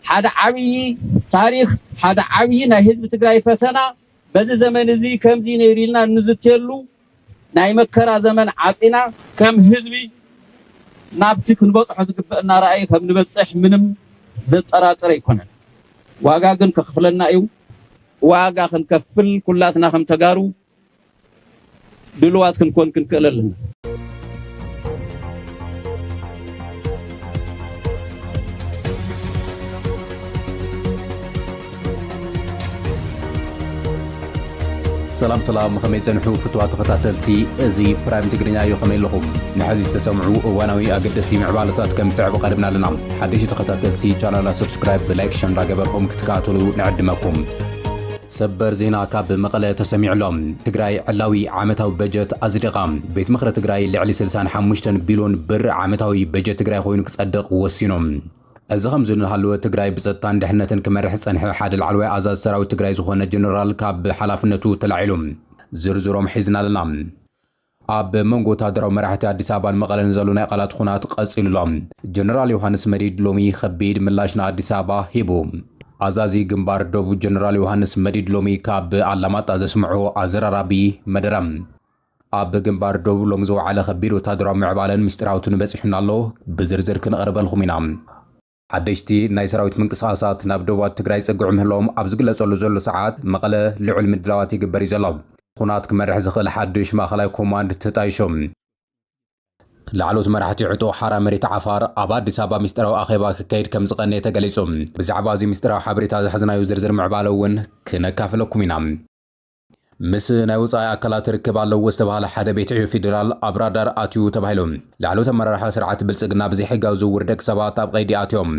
ሓደ ዓብዪ ታሪኽ፣ ሓደ ዓብዪ ናይ ህዝቢ ትግራይ ፈተና፣ በዚ ዘመን እዚ ከምዚ ነይሩ ኢልና እንዝትየሉ ናይ መከራ ዘመን ዓፂና፣ ከም ህዝቢ ናብቲ ክንበፅሖ ዝግበእና ራእይ ከም ንበፅሕ ምንም ዘጠራጥር ኣይኮነን። ዋጋ ግን ከኽፍለና እዩ። ዋጋ ክንከፍል ኩላትና ከም ተጋሩ ድሉዋት ክንኮን ክንክእል ኣለና። ሰላም ሰላም ኸመይ ጸንሑ ፍትዋ ተኸታተልቲ እዚ ፕራይም ትግርኛ እዩ ኸመይ ኣለኹም ንሐዚ ዝተሰምዑ እዋናዊ ኣገደስቲ ምዕባለታት ከም ዝስዕብ ቐድምና ኣለና ሓደሽቲ ተኸታተልቲ ቻናልና ሰብስክራይብ ብላይክ ሸንዳ ገበርኹም ክትከታተሉ ንዕድመኩም ሰበር ዜና ካብ መቐለ ተሰሚዑ ኣሎ። ትግራይ ዕላዊ ዓመታዊ በጀት ኣፅዲቓ። ቤት ምኽሪ ትግራይ ልዕሊ ስልሳን ሓሙሽተን ቢልዮን ብር ዓመታዊ በጀት ትግራይ ኾይኑ ክፀድቕ ወሲኑ። እዚ ከምዚ እናሃለወ ትግራይ ብፀጥታን ድሕነትን ክመርሕ ዝፀንሐ ሓደ ላዕለዋይ ኣዛዚ ሰራዊት ትግራይ ዝኾነ ጀነራል ካብ ሓላፍነቱ ተላዒሉ። ዝርዝሮም ሒዝና ኣለና። ኣብ መንጎ ወተሃደራዊ መራሕቲ ኣዲስ ኣበባን መቐለን ዘሎ ናይ ቓላት ኹናት ቐፂሉ ኣሎ። ጀነራል ዮሃንስ መዲድ ሎሚ ኸቢድ ምላሽ ንኣዲስ ኣበባ ሂቡ። ኣዛዚ ግንባር ዶብ ጀነራል ዮሃንስ መዲድ ሎሚ ካብ ኣላማጣ ዘስምዖ ኣዘራራቢ መደረ፣ ኣብ ግንባር ዶብ ሎሚ ዝወዓለ ኸቢድ ወተሃደራዊ ምዕባለን ምስጢራዊ ትኑ በፂሑና ኣሎ፣ ብዝርዝር ክንቕርበልኹም ኢና። ሓደሽቲ ናይ ሰራዊት ምንቅስቓሳት ናብ ደቡባት ትግራይ ይጸግዑ ምህላዎም ኣብ ዝግለጸሉ ዘሎ ሰዓት፣ መቐለ ልዑል ምድላዋት ይግበር እዩ ዘሎ። ኹናት ክመርሕ ዝኽእል ሓዱሽ ማእኸላይ ኮማንድ ተጣይሹ። ላዕለዎት መራሕቲ ዕጡቕ ሓራ መሬት ዓፋር ኣብ ኣዲስ ኣበባ ሚስጢራዊ ኣኼባ ክካየድ ከም ዝቐነየ ተገሊጹ። ብዛዕባ እዚ ሚስጢራዊ ሓበሬታ ዝሓዝናዮ ዝርዝር ምዕባለ እውን ክነካፍለኩም ኢና። ምስ ናይ ወጻኢ ኣካላት ርክብ ኣለዎ ዝተብሃለ ሓደ ቤት ዕዮ ፌዴራል ኣብ ራዳር ኣትዩ ተባሂሉ። ላዕለዎት ኣመራርሓ ስርዓት ብልጽግና ብዘይሕጋዊ ዝውውር ደቂ ሰባት ኣብ ቀይዲ ኣትዮም።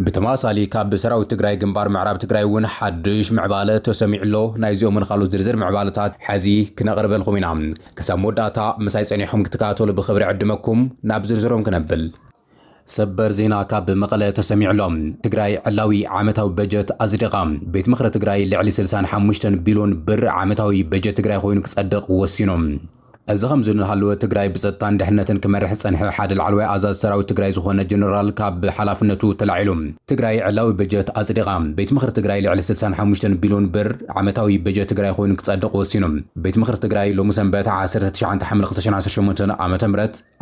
ብተመሳሳሊ ካብ ሰራዊት ትግራይ ግንባር ምዕራብ ትግራይ እውን ሓዱሽ ምዕባለ ተሰሚዑ ኣሎ። ናይዚኦምን ካልኦት ዝርዝር ምዕባለታት ሐዚ ክነቕርበልኹም ኢና። ክሳብ መወዳእታ ምሳይ ጸኒሕኹም ክትከታተሉ ብኽብሪ እዕድመኩም። ናብ ዝርዝሮም ክነብል። ሰበር ዜና ካብ መቐለ ተሰሚዑ'ሎ። ትግራይ ዕላዊ ዓመታዊ በጀት ኣፅዲቓ። ቤት ምኽሪ ትግራይ ልዕሊ ስልሳን ሓሙሽተን ቢሎን ብር ዓመታዊ በጀት ትግራይ ኾይኑ ክፀድቕ ወሲኑ። እዚ ኸምዚ እናሃለወ ትግራይ ብፀጥታን ድሕነትን ክመርሕ ዝፀንሐ ሓደ ላዕለዋይ ኣዛዚ ሰራዊት ትግራይ ዝኾነ ጀነራል ካብ ሓላፍነቱ ተላዒሉ። ትግራይ ዕላዊ በጀት ኣፅዲቓ። ቤት ምኽሪ ትግራይ ልዕሊ ስልሳን ሓሙሽተን ቢሎን ብር ዓመታዊ በጀት ትግራይ ኾይኑ ክፀድቕ ወሲኑ። ቤት ምኽሪ ትግራይ ሎሚ ሰንበት ዓሰርተ ትሽዓተ ሓምለ ክልተ ሸሕን ዓሰርተ ሸሞንተን ዓ.ም።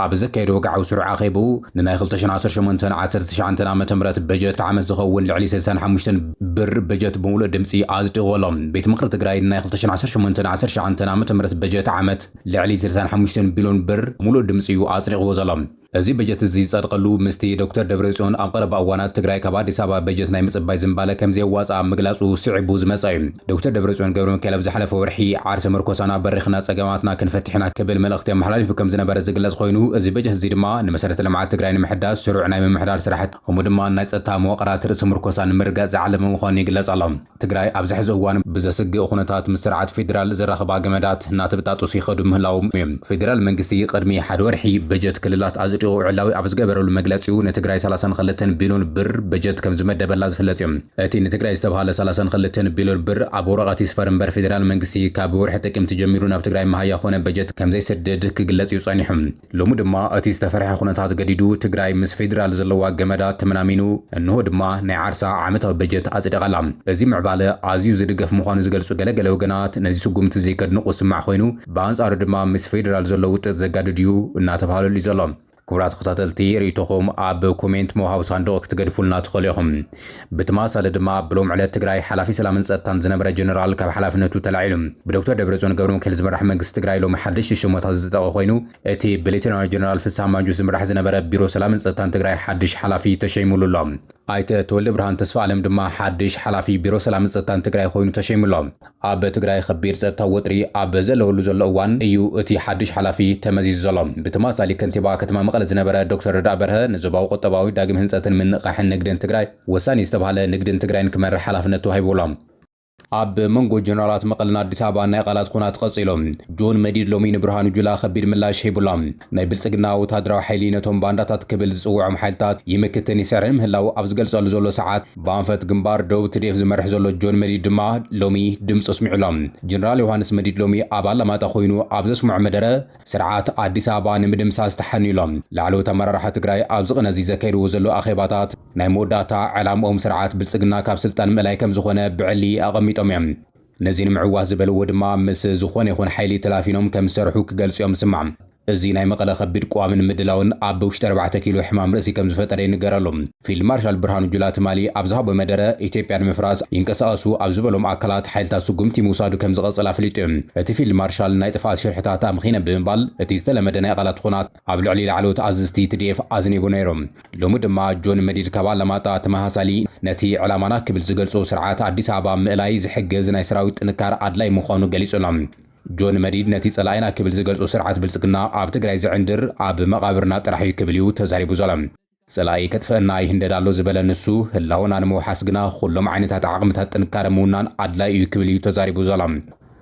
ኣብ ዘካየዶ ወግዓዊ ስሩዕ ኣኼብኡ፣ ንናይ ክልተ ሽሕን ዓሰርተ ሸሞንተን ዓሰርተ ትሽዓንተን ዓመተ ምህረት በጀት ዓመት ዝኸውን ልዕሊ ስልሳን ሓሙሽተን ብር በጀት ብምሉእ ድምጺ ኣጽዲቑዎ ኣሎ። ቤት ምኽሪ ትግራይ ንናይ ክልተ ሽሕን ዓሰርተ ሸሞንተን ዓሰርተ ትሽዓንተን ዓመተ ምህረት በጀት ዓመት ልዕሊ ስልሳን ሓሙሽተን ቢልዮን ብር ብምሉእ ድምጺ'ዩ ኣጽዲቑዎ ዘሎ። እዚ በጀት እዚ ዝጸድቐሉ ምስቲ ዶክተር ደብረጽዮን ኣብ ቀረባ እዋናት ትግራይ ካብ ኣዲስ ኣበባ በጀት ናይ ምጽባይ ዝንባለ ከምዘየዋጽኣ ምግላጹ ስዒቡ ዝመጸ እዩ። ዶክተር ደብረፅዮን ገብረሚካኤል ኣብ ዝሓለፈ ወርሒ ዓርሰ ምርኮሳና በሪኽና ፀገማትና ክንፈትሕ ኢና ክብል መልእኽቲ ኣመሓላሊፉ ከምዝነበረ ዝግለፅ ኾይኑ እዚ በጀት እዚ ድማ ንመሰረተ ልምዓት ትግራይ ንምሕዳስ ስሩዕ ናይ ምምሕዳር ስራሕቲ ከምኡ ድማ ናይ ፀጥታ መዋቕራት ርእሰ ምርኮሳ ንምርግጋፅ ዝዓለመ ምዃኑ ይግለፅ ኣሎ። ትግራይ ኣብዚ ሕዚ እዋን ብዘስግእ ኹነታት ምስ ስርዓት ፌዴራል ዘራኽባ ገመዳት እናተበጣጠሱ ይኸዱ ምህላዎም እዩ። ፌዴራል መንግስቲ ቕድሚ ሓደ ወርሒ በጀት ክልላት ኣፅዲቑ ዕላዊ ኣብ ዝገበረሉ መግለፂኡ ንትግራይ ሰላሳን ኽልተን ቢልዮን ብር በጀት ከምዝመደበላ ዝፍለጥ እዩ። እቲ ንትግራይ ዝተብሃለ ሰላሳን ክልተን ቢልር ብር ኣብ ወረቐት ይስፈር እምበር ፌዴራል መንግስቲ ካብ ወርሒ ጥቅምቲ ጀሚሩ ናብ ትግራይ መሃያ ኮነ በጀት ከምዘይሰድድ ክግለፅ እዩ ፀኒሑ። ሎሚ ድማ እቲ ዝተፈርሐ ኩነታት ገዲዱ ትግራይ ምስ ፌዴራል ዘለዋ ገመዳት ተመናሚኑ እንሆ ድማ ናይ ዓርሳ ዓመታዊ በጀት ኣፅዲቓ'ላ። እዚ ምዕባለ ኣዝዩ ዝድገፍ ምዃኑ ዝገልፁ ገለ ገለ ወገናት ነዚ ስጉምቲ እዚ ከድንቑ ዝስማዕ ኮይኑ ብኣንፃሩ ድማ ምስ ፌዴራል ዘሎ ውጥጥ ዘጋድድ እዩ እናተብሃለሉ እዩ ዘሎ። ክቡራት ተኸታተልቲ ሪኢቶኹም ኣብ ኮሜንት መውሃቢ ሳንዱቕ ክትገድፉልና ትኽእሉ ኢኹም። ብትማሳሊ ድማ ብሎም ዕለት ትግራይ ሓላፊ ሰላምን ፀጥታን ዝነበረ ጀነራል ካብ ሓላፍነቱ ተላዒሉ። ብዶክተር ደብረፅዮን ገብረሚካኤል ዝምራሕ መንግስቲ ትግራይ ሎሚ ሓደሽቲ ሸሞታት ዝፀደቐ ኮይኑ እቲ ብሌተናል ጀነራል ፍስሃ ማንጁስ ዝምራሕ ዝነበረ ቢሮ ሰላምን ፀጥታን ትግራይ ሓድሽ ሓላፊ ተሸይሙሉ ኣሎ። ኣይተ ተወልደብርሃን ተስፋኣለም ድማ ሓድሽ ሓላፊ ቢሮ ሰላምን ፀጥታን ትግራይ ኮይኑ ተሸይሙ ኣሎ። ኣብ ትግራይ ኸቢድ ፀጥታዊ ወጥሪ ኣብ ዘለወሉ ዘሎ እዋን እዩ እቲ ሓዱሽ ሓላፊ ተመዚዙ ዘሎ። ብተማሳሊ ከንቲባ ከተማ መቐለ ዝነበረ ዶክተር ረዳኢ በርሀ ንዞባዊ ቁጠባዊ ዳግም ህንፀትን ምንቕቓሕን ንግድን ትግራይ ወሳኒ ዝተብሃለ ንግድን ትግራይን ክመርሕ ሓላፍነት ተዋሂብዎ'ሎ። ኣብ መንጎ ጀነራላት መቐለን ኣዲስ ኣበባን ናይ ቓላት ኹናት ቐፂሉ። ጆን መዲድ ሎሚ ንብርሃኑ ጁላ ኸቢድ ምላሽ ሂቡ'ሎ። ናይ ብልጽግና ወተሃደራዊ ሓይሊ ነቶም ባንዳታት ክብል ዝጽውዖም ሓይልታት ይምክትን ይስዕርን ምህላዉ ኣብ ዝገልጸሉ ዘሎ ሰዓት፣ ብኣንፈት ግንባር ደቡብ ትድኤፍ ዝመርሕ ዘሎ ጆን መዲድ ድማ ሎሚ ድምጹ ኣስሚዑ ኣሎ። ጀነራል ዮውሃንስ መዲድ ሎሚ ኣብ ኣላማጣ ኮይኑ ኣብ ዘስምዖ መደረ፣ ስርዓት ኣዲስ ኣበባ ንምድምሳስ ተሓንዩ ኣሎ። ላዕለዎት ኣመራርሓ ትግራይ ኣብዚ ቅነ እዚ ዘካይድዎ ዘለዉ ኣኼባታት፣ ናይ መወዳእታ ዕላምኦም ስርዓት ብልጽግና ካብ ስልጣን ምእላይ ከምዝኾነ ብዕሊ ኣቐሚጦም እዮም። ነዚ ንምዕዋት ዝበልዎ ድማ ምስ ዝኾነ ይኹን ሓይሊ ተላፊኖም ከም ዝሰርሑ ክገልጹ'ዮም ዝስማዕ። እዚ ናይ መቐለ ከቢድ ቅዋምን ምድላውን ኣብ ውሽጢ ኣርባዕተ ኪሎ ሕማም ርእሲ ከም ዝፈጠረ ይንገረሉ። ፊልድ ማርሻል ብርሃኑ ጁላ ትማሊ ኣብ ዝሃቦ መደረ፣ ኢትዮጵያ ንምፍራስ ይንቀሳቐሱ ኣብ ዝበሎም ኣካላት ሓይልታት ስጉምቲ ምውሳዱ ከም ዝቐጽል ኣፍሊጡ'ዩ። እቲ ፊልድ ማርሻል ናይ ጥፍኣት ሽርሕታት ኣምኺነ ብምባል እቲ ዝተለመደ ናይ ቓላት ኹናት ኣብ ልዕሊ ላዕለዎት ኣዘዝቲ TDF ኣዝኒቡ ነይሩ። ሎሚ ድማ ጆን መዲድ ካብ ኣላማጣ ተመሳሳሊ ነቲ ዕላማና ክብል ዝገልጾ ስርዓት ኣዲስ ኣበባ ምእላይ ዝሕግዝ ናይ ሰራዊት ጥንካረ ኣድላይ ምዃኑ ገሊጹ ኣሎ። ጆን መዲድ ነቲ ጸላኢና ክብል ዝገልጾ ስርዓት ብልጽግና ኣብ ትግራይ ዝዕንድር ኣብ መቓብርና ጥራሕ እዩ ክብል እዩ ተዛሪቡ ዘሎ። ጸላኢ ከጥፍእና ይህንደድ ኣሎ ዝበለ ንሱ፣ ህላወና ንምውሓስ ግና ኹሎም ዓይነታት ዓቕምታት ጥንካረ ምውናን ኣድላይ እዩ ክብል እዩ ተዛሪቡ ዘሎ።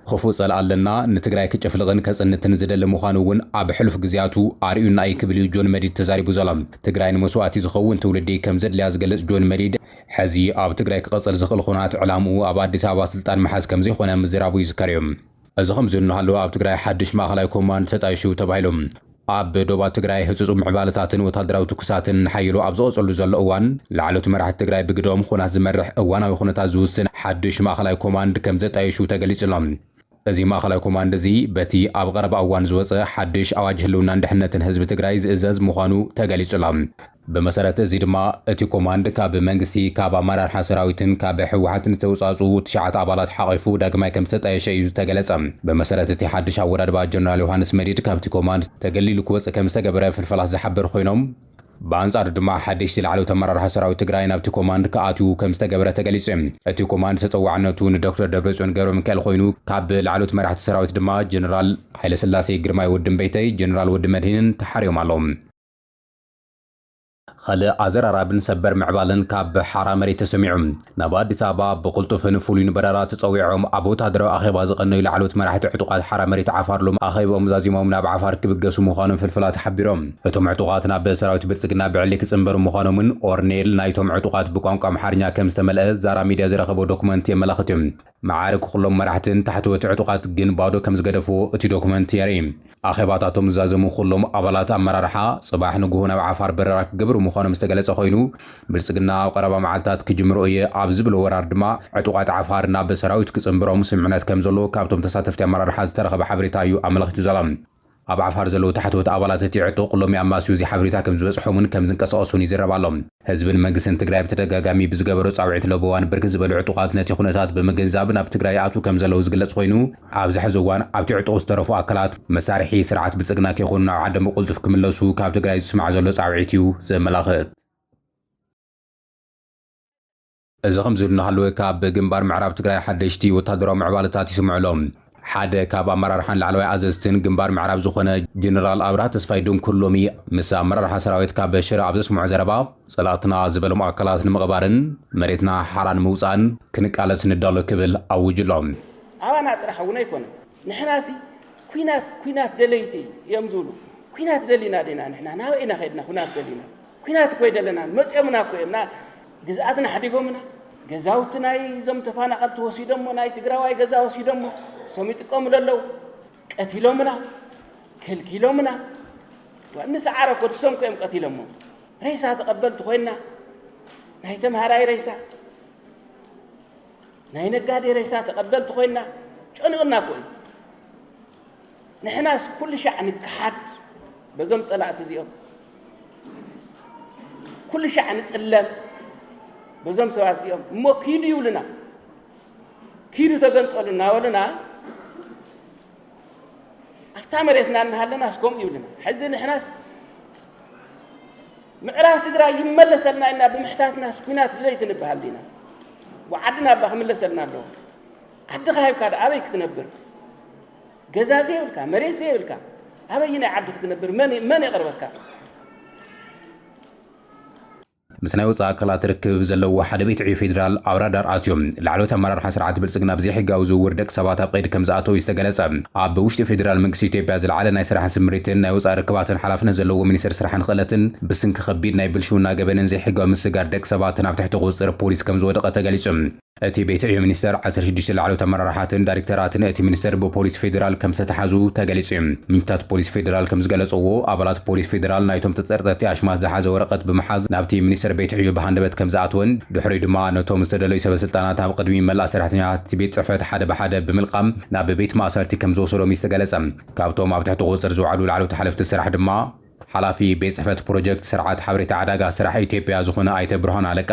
ኽፉእ ጸላኢ ኣለና፣ ንትግራይ ክጭፍልቕን ከጽንትን ዝደሊ ምዃኑ እውን ኣብ ሕሉፍ ግዝያቱ ኣርእዩና እዩ ክብል እዩ ጆን መዲድ ተዛሪቡ ዘሎ። ትግራይ ንመስዋእቲ ዝኸውን ትውልዲ ከም ዘድልያ ዝገልጽ ጆን መዲድ፣ ሕዚ ኣብ ትግራይ ክቕጽል ዝኽእል ኹናት ዕላምኡ ኣብ ኣዲስ ኣበባ ስልጣን ምሓዝ ከም ዘይኾነ ምዝራቡ ይዝከር እዩ። እዚ ከምዚ እናሃለወ ኣብ ትግራይ ሓድሽ ማእኸላይ ኮማንድ ተጣይሹ ተባሂሉ። ኣብ ዶባት ትግራይ ህጹጽ ምዕባለታትን ወታደራዊ ትኩሳትን ንሓይሎ ኣብ ዝቐጸሉ ዘሎ እዋን፣ ላዕለዎት መራሕቲ ትግራይ ብግደኦም ኹናት ዝመርሕ፣ እዋናዊ ኩነታት ዝውስን ሓዱሽ ማእኸላይ ኮማንድ ከምዘጣየሹ ተገሊጹ ኣሎ። እዚ ማእኸላይ ኮማንድ እዚ በቲ ኣብ ቐረባ እዋን ዝወጸ ሓዱሽ ኣዋጅ ህልውናን ድሕነትን ህዝቢ ትግራይ ዝእዘዝ ምዃኑ ተገሊጹ ኣሎ። ብመሰረት እዚ ድማ እቲ ኮማንድ ካብ መንግስቲ፣ ካብ ኣመራርሓ ሰራዊትን ካብ ህወሓትን ዝተውፃእፅኡ ትሽዓተ ኣባላት ሓቚፉ ዳግማይ ከምዝተጣየሸ እዩ ዝተገለፀ። ብመሰረት እቲ ሓድሽ ኣወዳድባ ጀነራል ዮሃንስ መዲድ ካብቲ ኮማንድ ተገሊሉ ክወፅእ ከምዝተገበረ ፍልፈላት ዝሓበሩ ኮይኖም፣ ብኣንፃሩ ድማ ሓደሽቲ ላዕለዎት ኣመራርሓ ሰራዊት ትግራይ ናብቲ ኮማንድ ክኣትዉ ከምዝተገበረ ተገሊፁ እዩ። እቲ ኮማንድ ተፀዋዕነቱ ንዶክተር ደብረፅዮን ገብረሚካኤል ኮይኑ ካብ ላዕለዎት መራሕቲ ሰራዊት ድማ ጀነራል ሃይለስላሴ፣ ግርማይ ወዲ እምበይተይ፣ ጀነራል ወዲ መድሂንን ተሓርዮም ኣለዉ። ኸልእ ኣዘራራብን ሰበር ምዕባለን ካብ ሓራ መሬት ተሰሚዑ። ናብ ኣዲስ ኣበባ ብቕልጡፍን ፍሉይን በረራ ተጸዊዖም ኣብ ወተሃደራዊ ኣኼባ ዝቐነዩ ላዕለዎት መራሕቲ ዕጡቓት ሓራ መሬት ዓፋር ሎሚ ኣኼብኦም ዛዚሞም ናብ ዓፋር ክብገሱ ምዃኖም ፍልፍላት ሓቢሮም። እቶም ዕጡቓት ናብ ሰራዊት ብልጽግና ብዕሊ ክጽንበሩ ምዃኖም'ውን ኦርኔል ናይቶም ዕጡቓት ብቋንቋ ኣምሓርኛ ከም ዝተመልኣ ዛራ ሚድያ ዝረኸቦ ዶክመንት የመላኽት። መዓርግ ዅሎም መራሕትን ታሕተወቲ ዕጡቓት ግን ባዶ ከም ዝገደፍዎ እቲ ዶክመንት የርኢ። ኣኼባታቶም ዝዛዘሙ ዅሎም ኣባላት ኣመራርሓ፣ ጽባሕ ንግሆ ናብ ዓፋር በረራ ክገብሩ ምዃኖም ዝተገለጸ ኰይኑ፣ ብልጽግና ኣብ ቐረባ መዓልታት ክጅምሮ እየ ኣብ ዝብሎ ወራር ድማ ዕጡቓት ዓፋር ናብ ሰራዊት ክጽንብሮም ስምምዕነት ከም ዘሎ ካብቶም ተሳተፍቲ ኣመራርሓ ዝተረኸበ ሓበሬታ እዩ ኣመልኺቱ ዘሎ። ኣብ ዓፋር ዘለዉ ታሕተዎት ኣባላት እቲ ዕጡቕ ሎሚ ኣማስዩ እዚ ሓበሬታ ከም ዝበጽሖምን ከም ዝንቀሳቐሱን ይዝረብ ኣሎ። ህዝብን መንግስትን ትግራይ ብተደጋጋሚ ብዝገበሮ ጻውዒት ለበዋን ብርክት ዝበሉ ዕጡቓት ነቲ ኩነታት ብምግንዛብ ናብ ትግራይ ይኣትዉ ከም ዘለዉ ዝግለጽ ኮይኑ ኣብዚ ሕዚ እዋን ኣብቲ ዕጡቕ ዝተረፉ ኣካላት መሳርሒ ስርዓት ብልጽግና ከይኮኑ ናብ ዓዶም ብቕልጡፍ ክምለሱ ካብ ትግራይ ዝስማዕ ዘሎ ጻውዒት እዩ ዘመላኽት። እዚ ከምዚ ኢሉ እናሃለወ ካብ ግንባር ምዕራብ ትግራይ ሓደሽቲ ወታደራዊ ምዕባለታት ይስምዑ ኣሎ። ሓደ ካብ ኣመራርሓን ላዕለዋይ ኣዘዝትን ግንባር ምዕራብ ዝኾነ ጀነራል ኣብርሃ ተስፋይ ድንኩር ሎሚ ምስ ኣመራርሓ ሰራዊት ካብ ሽረ ኣብ ዘስምዖ ዘረባ ፀላእትና ዝበሎም ኣካላት ንምቕባርን መሬትና ሓራ ንምውፃእን ክንቃለስ ንዳሎ ክብል ኣዊጁ ኣሎ። ኣባና ጥራሕ እውን ኣይኮነን። ንሕናሲ ኩናት ኩናት ደለይቲ እዮም ዝብሉ ኩናት ደሊና ዲና ንሕና ናበይ ኢና ከድና ኩናት ደሊና ኩናት እኮ ይደለና መፅኦምና እኮ እዮም ግዝኣትና ሓዲጎምና ገዛውቲ ናይ እዞም ተፈናቐልቲ ወሲዶሞ ናይ ትግራዋይ ገዛ ወሲዶሞ እሶም ይጥቀሙሉ ኣለዉ ቀቲሎምና ከልኪሎምና ንሰዓረ እኮ እሶም እኮ እዮም ቀቲሎሞ ሬሳ ተቐበልቲ ኮይና ናይ ተምሃራይ ሬሳ ናይ ነጋዴ ሬሳ ተቐበልቲ ኮይና ጨንኡና እኮ እዩ። ንሕናስ ኩሉ ሻዕ ንከሓድ በዞም ጸላእቲ እዚኦም፣ ኩሉ ሻዕ ንጥለም በዞም ሰባት እዚኦም። እሞ ኪዱ ይብሉና፣ ኪዱ ተገንጸሉ እናበሉና ኣብታ መሬትና እናሃለናስ ከምኡ ይብሉና። ሕዚ ንሕናስ ምዕራብ ትግራይ ይመለሰልና ኢልና ብምሕታትናስ ኩናት ድለይቲ ንበሃል ዲና? ዓድና እባ ክምለሰልና ኣለዎ። ዓድኻ ሂብካ ዶ ኣበይ ክትነብር? ገዛ ዘይብልካ መሬት ዘይብልካ ኣበይ ናይ ዓዲ ክትነብር መን የቕርበካ? ምስ ናይ ወፃኢ ኣካላት ርክብ ዘለዎ ሓደ ቤት ዕዮ ፌዴራል ኣብ ራዳር ኣትዮም ላዕለዎት ኣመራርሓ ስርዓት ብልፅግና ብዘይሕጋዊ ዝውውር ደቂ ሰባት ኣብ ቀይዲ ከምዝኣተው እዩ ዝተገለፀ። ኣብ ውሽጢ ፌዴራል መንግስቲ ኢትዮጵያ ዝለዓለ ናይ ስራሕ ስምሪትን ናይ ወፃኢ ርክባትን ሓላፍነት ዘለዎ ሚኒስትር ስራሕን ኽእለትን ብስንኪ ከቢድ ናይ ብልሽውና ገበንን ዘይሕጋዊ ምስግጋር ደቂ ሰባትን ኣብ ትሕቲ ቁፅፅር ፖሊስ ከምዝወደቐ ተገሊፁ። እቲ ቤት ዕዮ ሚኒስተር ዓሰርተ ሽዱሽተ ላዕለዎት ኣመራርሓትን ዳይሬክተራትን እቲ ሚኒስቴር ብፖሊስ ፌዴራል ከምዝተትሓዙ ተገሊፁ እዩ። ምንጭታት ፖሊስ ፌዴራል ከምዝገለፀዎ ኣባላት ፖሊስ ፌዴራል ናይቶም ተጠርጠርቲ ኣሽማት ዝሓዘ ወረቐት ብምሓዝ ናብቲ ሚኒስቴር ቤት ዕዮ ብሃንደበት ከምዝኣተወን ድሕሪኡ ድማ ነቶም ዝተደለዩ ሰበስልጣናት ኣብ ቕድሚ መላእ ሰራሕተኛታት እቲ ቤት ፅሕፈት ሓደ ብሓደ ብምልቓም ናብ ቤት ማእሰርቲ ከም ዝወሰዶም እዩ ዝተገለጸ። ካብቶም ኣብ ትሕቲ ቁጽጽር ዝወዓሉ ላዕለዎት ሓለፍቲ ስራሕ ድማ፣ ሓላፊ ቤት ጽሕፈት ፕሮጀክት ስርዓት ሓበሬታ ዕዳጋ ስራሕ ኢትዮጵያ ዝኾነ ኣይተ ብርሃኑ ኣለቃ፣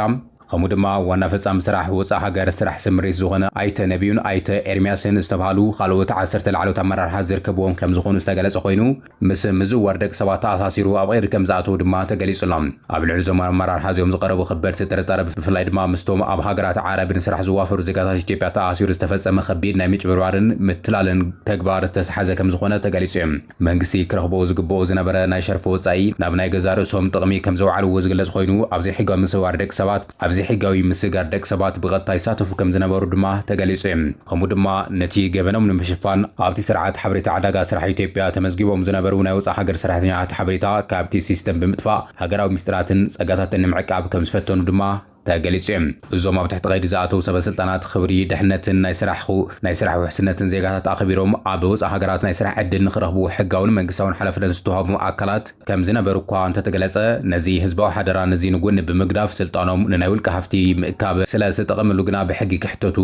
ከምኡ ድማ ዋና ፈጻሚ ስራሕ ወጻእ ሃገር ስራሕ ስምሪት ዝኾነ ኣይተ ነብዩን ኣይተ ኤርሚያስን ዝተብሃሉ ካልኦት ዓሰርተ ላዕለዎት ኣመራርሓ ዝርከብዎም ከም ዝኾኑ ዝተገለጸ ኮይኑ፣ ምስ ምዝዋር ደቂ ሰባት ተኣሳሲሩ ኣብ ቐይዲ ከም ዝኣተዉ ድማ ተገሊጹ ኣሎ። ኣብ ልዕሊ እዞም ኣመራርሓ እዚኦም ዝቐረቡ ከበድቲ ጥርጣረ ብፍላይ ድማ ምስቶም ኣብ ሃገራት ዓረብ ንስራሕ ዝዋፈሩ ዜጋታት ኢትዮጵያ ተኣሳሲሩ ዝተፈጸመ ከቢድ ናይ ምጭብርባርን ምትላልን ተግባር ዝተትሓዘ ከም ዝኾነ ተገሊጹ እዩ። መንግስቲ ክረኽቦ ዝግበኦ ዝነበረ ናይ ሸርፊ ወጻኢ ናብ ናይ ገዛእ ርእሶም ጥቕሚ ከም ዘውዓልዎ ዝግለጽ ኮይኑ ኣብ ዘይሕጋዊ ምስውዋር ደቂ ሰባት ኣብ ዘይሕጋዊ ምስግጋር ደቂ ሰባት ብቐጥታ ይሳተፉ ከም ዝነበሩ ድማ ተገሊጹ እዩ። ከምኡ ድማ ነቲ ገበኖም ንምሽፋን ኣብቲ ስርዓት ሓበሬታ ዕዳጋ ስራሕ ኢትዮጵያ ተመዝጊቦም ዝነበሩ ናይ ወጻእ ሃገር ሰራሕተኛታት ሓበሬታ ካብቲ ሲስተም ብምጥፋእ ሃገራዊ ምስጢራትን ጸጋታትን ንምዕቃብ ከም ዝፈተኑ ድማ ተገሊጹ እዩ። እዞም ኣብ ትሕቲ ቀይዲ ዝኣተዉ ሰበስልጣናት ኽብሪ፣ ድሕነትን ናይ ስራሕ ናይ ስራሕ ውሕስነትን ዜጋታት ኣኽቢሮም ኣብ ወጻእ ሃገራት ናይ ስራሕ ዕድል ንኽረኽቡ ሕጋውን መንግስታውን ሓላፍነት ዝተዋህቦም ኣካላት ከም ዝነበሩ እኳ እንተተገለጸ፣ ነዚ ህዝባዊ ሓደራ ነዚ ንጎኒ ብምግዳፍ ስልጣኖም ንናይ ውልቀ ሃፍቲ ምእካብ ስለ ዝተጠቐምሉ ግና ብሕጊ ክሕተቱ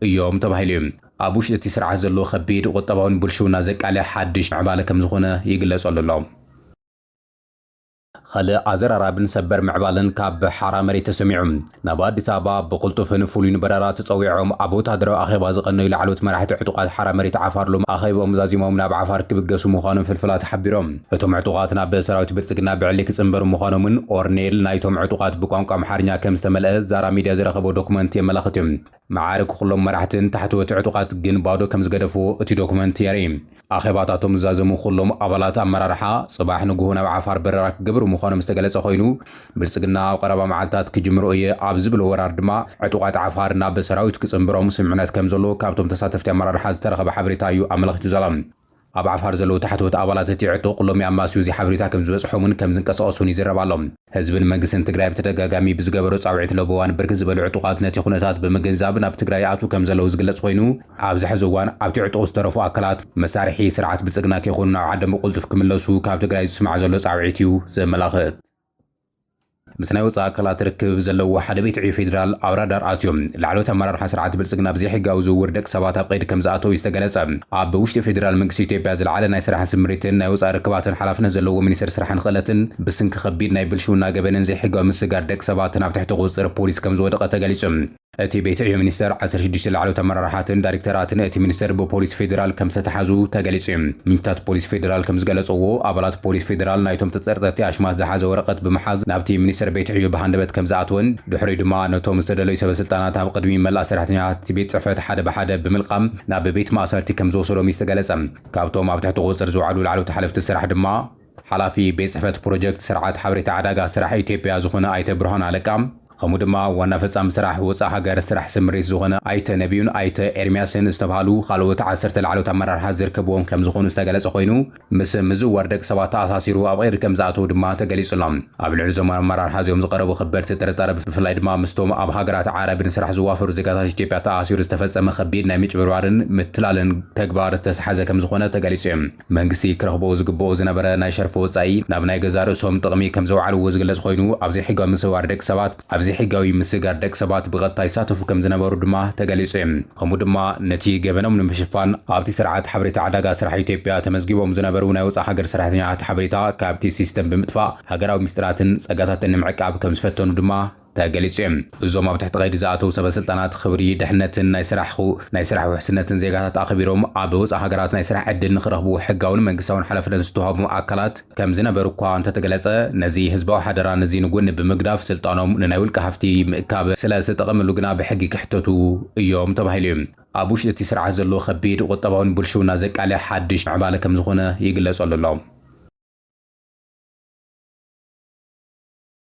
እዮም ተባሂሉ እዩ። ኣብ ውሽጢ እቲ ስርዓት ዘሎ ከቢድ ቁጠባዊ ንብልሽውና ዘቃልዕ ሓድሽ ምዕባለ ከም ዝኾነ ይግለጸሉ ኣሎ። ኸልእ ኣዘራራብን ሰበር ምዕባለን ካብ ሓራ መሬት ተሰሚዑ። ናብ ኣዲስ ኣበባ ብቕልጡፍን ፍሉይን በረራ ተጸዊዖም ኣብ ወተሃደራዊ ኣኼባ ዝቐነዩ ላዕለዎት መራሕቲ ዕጡቓት ሓራ መሬት ዓፋር ሎሚ ኣኼብኦም ዛዚሞም ናብ ዓፋር ክብገሱ ምዃኖም ፍልፍላት ሓቢሮም። እቶም ዕጡቓት ናብ ሰራዊት ብልጽግና ብዕሊ ክጽንበሩ ምዃኖም'ውን ኦርኔል ናይቶም ዕጡቓት ብቋንቋ ኣምሓርኛ ከም ዝተመልአ ዛራ ሚድያ ዝረኸቦ ዶኩመንት የመላኽት'ዩ። መዓርግ ኵሎም መራሕትን ታሕተወቲ ዕጡቓት ግን ባዶ ከም ዝገደፍዎ እቲ ዶክመንት የርኢ። ኣኼባታቶም ዝዛዘሙ ኵሎም ኣባላት ኣመራርሓ፣ ጽባሕ ንግሆ ናብ ዓፋር በረራ ክገብሩ ምዃኖም ዝተገለጸ ኰይኑ፣ ብልጽግና ኣብ ቐረባ መዓልታት ክጅምሮ እየ ኣብ ዝብሎ ወራር ድማ ዕጡቓት ዓፋር ናብ ሰራዊት ክጽንብሮም ስምምዕነት ከም ዘሎ ካብቶም ተሳተፍቲ ኣመራርሓ ዝተረኸበ ሓበሬታ እዩ ኣመልኺቱ ዘሎ። ኣብ ዓፋር ዘለዉ ታሕተዎት ኣባላት እቲ ዕጡቕ ሎሚ ኣማስዩ እዚ ሓበሬታ ከም ዝበጽሖምን ከም ዝንቀሳቐሱን ይዝረብ ኣሎ። ህዝብን መንግስትን ትግራይ ብተደጋጋሚ ብዝገበሮ ጻውዒት ለበዋን ብርክት ዝበሉ ዕጡቓት ነቲ ኩነታት ብምግንዛብ ናብ ትግራይ ይኣትዉ ከም ዘለዉ ዝግለጽ ኮይኑ ኣብዚ ሕዚ እዋን ኣብቲ ዕጡቕ ዝተረፉ ኣካላት መሳርሒ ስርዓት ብልጽግና ከይኮኑ ናብ ዓዶም ብቕልጡፍ ክምለሱ ካብ ትግራይ ዝስማዕ ዘሎ ጻውዒት እዩ ዘመላኽት። ምስ ናይ ወፃኢ ኣካላት ርክብብ ዘለዎ ሓደ ቤት ዕዮ ፌዴራል ኣብ ራዳር ኣትዮም ላዕለዎት ኣመራርሓ ስርዓት ብልፅግና ብዘይሕጋዊ ዝውውር ደቂ ሰባት ኣብ ቀይዲ ከምዝኣተው እዩ ዝተገለፀ። ኣብ ውሽጢ ፌዴራል መንግስቲ ኢትዮጵያ ዝለዓለ ናይ ስራሕን ስምሪትን ናይ ወፃኢ ርክባትን ሓላፍነት ዘለዎ ሚኒስትር ስራሕን ኽእለትን ብስንኪ ከቢድ ናይ ብልሽውና ገበንን ዘይሕጋዊ ምስግጋር ደቂ ሰባትን ኣብ ትሕቲ ቁፅፅር ፖሊስ ከምዝወደቐ ተገሊፁ። እቲ ቤት ዕዮ ሚኒስተር፣ ዓሰርተ ሽዱሽተ ላዕለዎት ኣመራርሓትን ዳይሬክተራትን እቲ ሚኒስተር ብፖሊስ ፌደራል ከምዝተታሕዙ ተገሊጹ'ዩ። ምንጭታት ፖሊስ ፌደራል ከምዝገለጸዎ፣ ኣባላት ፖሊስ ፌደራል ናይቶም ተጠርጠርቲ ኣሽማት ዝሓዘ ወረቐት ብምሓዝ ናብቲ ሚኒስተር ቤት ዕዮ ብሃንደበት ከምዝኣተወን ድሕሪኡ ድማ ነቶም ዝተደለዩ ሰበስልጣናት ኣብ ቅድሚ መላእ ሰራሕተኛታት እቲ ቤት ጽሕፈት ሓደ ብሓደ ብምልቃም ናብ ቤት ማእሰርቲ ከምዝወሰዶም'ዩ ዝተገለጸ። ካብቶም ኣብ ትሕቲ ቁጽጽር ዝወዓሉ ላዕለዎት ሓለፍቲ ስራሕ ድማ፣ ሓላፊ ቤት ፅሕፈት ፕሮጀክት ስርዓት ሓበሬታ ዕዳጋ ስራሕ ኢትዮጵያ ዝኾነ ኣይተ ብርሃኑ ኣለቃ ከምኡ ድማ ዋና ፈፃሚ ስራሕ ወፃእ ሃገር ስራሕ ስምሪት ዝኾነ ኣይተ ነቢዩን ኣይተ ኤርሚያስን ዝተብሃሉ ካልኦት ዓሰርተ ላዕለዎት ኣመራርሓ ዝርከብዎም ከምዝኾኑ ዝተገለፀ ኮይኑ ምስ ምዝውዋር ደቂ ሰባት ተኣሳሲሩ ኣብ ቐይዲ ከምዝኣተው ድማ ተገሊፁ ኣሎ። ኣብ ልዕሊ እዞም ኣመራርሓ እዚኦም ዝቐረቡ ከበድቲ ጥርጣረ ብፍላይ ድማ ምስቶም ኣብ ሃገራት ዓረብ ንስራሕ ዝዋፈሩ ዜጋታት ኢትዮጵያ ተኣሳሲሩ ዝተፈፀመ ከቢድ ናይ ምጭብርባርን ምትላልን ተግባር ዝተትሓዘ ከምዝኾነ ተገሊፁ እዩ። መንግስቲ ክረኽቦ ዝግበኦ ዝነበረ ናይ ሸርፊ ወጻኢ ናብ ናይ ገዛእ ርእሶም ጥቕሚ ከም ዘውዓልዎ ዝግለጽ ኮይኑ፣ ኣብ ዘይሕጋዊ ምስውዋር ደቂ ሰባት ኣብ ዘይሕጋዊ ምስጋር ደቂ ሰባት ብቐጥታ ይሳተፉ ከም ዝነበሩ ድማ ተገሊጹ እዩ። ከምኡ ድማ ነቲ ገበኖም ንምሽፋን ኣብቲ ስርዓት ሓበሬታ ዕዳጋ ስራሕ ኢትዮጵያ ተመዝጊቦም ዝነበሩ ናይ ወጻእ ሃገር ሰራሕተኛታት ሓበሬታ ካብቲ ሲስተም ብምጥፋእ ሃገራዊ ሚስጥራትን ጸጋታትን ንምዕቃብ ከም ዝፈተኑ ድማ ተገሊጹ እዩ። እዞም ኣብ ትሕቲ ቀይዲ ዝኣተዉ ሰበ ስልጣናት ኽብሪ፣ ድሕነትን ናይ ስራሕኹ ናይ ስራሕ ውሕስነትን ዜጋታት ኣኽቢሮም ኣብ ወጻኢ ሃገራት ናይ ስራሕ ዕድል ንኽረኽቡ ሕጋውን መንግስታውን ሓላፍነት ዝተዋህቦም ኣካላት ከምዝነበሩ'ኳ እንተተገለጸ ነዚ ህዝባዊ ሓደራ ነዚ ንጎኒ ብምግዳፍ ስልጣኖም ንናይ ውልቀ ሃፍቲ ምእካብ ስለዝተጠቐምሉ ግና ብሕጊ ክሕተቱ እዮም ተባሂሉ እዩ። ኣብ ውሽጢ እቲ ስርዓት ዘሎ ኸቢድ ቑጠባውን ብልሽውና ዘቃልዕ ሓድሽ ምዕባለ ከምዝኾነ ይግለጸሉ ኣሎ።